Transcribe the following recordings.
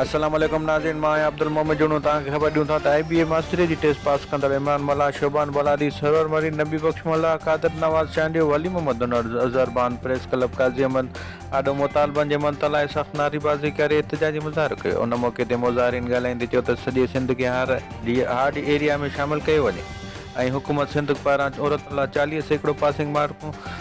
السلام عليڪم ناظرين مان آهيان عبدالمحمد جوڻو توهان کي خبر ڏيون ٿا ته آئي بي اي ماستريء جي ٽيسٽ پاس ڪندڙ عمران ملاح، شعبان بلادي، سرور مرين، نبي بخش ملاح، قادر نواز چانڊيو، ولي محمد هنرز، اظهر بان، پريس ڪلب قاضي احمد آڏو مطالبن جي منت لاء سخت نعري بازي ڪري احتجاجي مظاهرو ڪيو ان موقعي تي مظاهرين ڳالهائيندي چيو ته سڄي سنڌ کي هار ڊي هارڊ ايريا ۾ شامل ڪيو وڃي ۽ حڪومت سنڌ پاران عورتن لاء چاليهه سيڪڙو پاسنگ مارڪون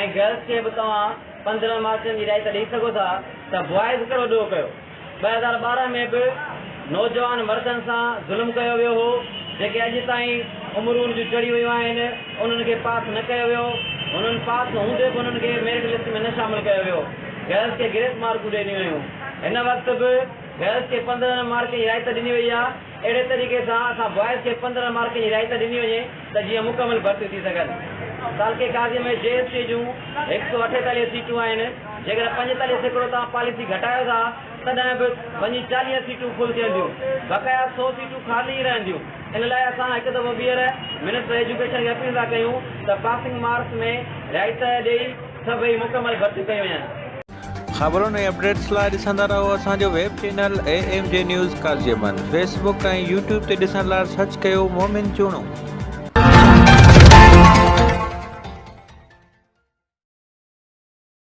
۽ گرلس کي به توهان پندرهن مارڪن جي رعايت ڏئي سگهو ٿا ته بوائز ڪهڙو ڏوهه ڪيو؟ ٻه هزار ٻارهن ۾ به نوجوان مردن سان ظلم ڪيو ويو هو جيڪي اڄ تائين عمرون جون چڙهي ويون آهن انهن کي پاس نه ڪيو ويو هنن پاس هوندي به انهن کي ميرٽ لسٽ ۾ نه شامل ڪيو ويو گرلس کي گريس مارڪون ڏنيون ويون هن وقت به گرلس کي پندرهن مارڪن جي رعايت ڏني وئي آهي. اهڙي طريقي سان اسان بوائز کي پندرهن مارڪن جي رعايت ڏني وڃي ته جيئن مڪمل ڀرتيون ٿي سگهن. تعلقي قاضيء ۾ جي ايس ٽي جون هڪ سؤ اٺيتاليهه سيٽون آهن، جيڪڏهن پنجيتاليهه سيڪڙو توهان پاليسي گهٽايو ٿا تڏهن به وڃي چاليهه سيٽون فل ٿينديون، بقايا سؤ سيٽون خالي ئي رهنديون، ان لاء اسان هڪ دفعو ٻيهر منسٽر ايجوڪيشن کي اپيل ٿا ڪيون ته پاسنگ مارڪس ۾ رعايت ڏئي سڀئي مڪمل ڀرتيون ڪيون وڃن. خبرن ۽ اپڊيٽس لاء ڏسندا رهو اسان جو web channel A M G news Qazi Ahmed Facebook ۽ YouTube تي ڏسڻ لاء سرچ ڪيو مومن چوڻو.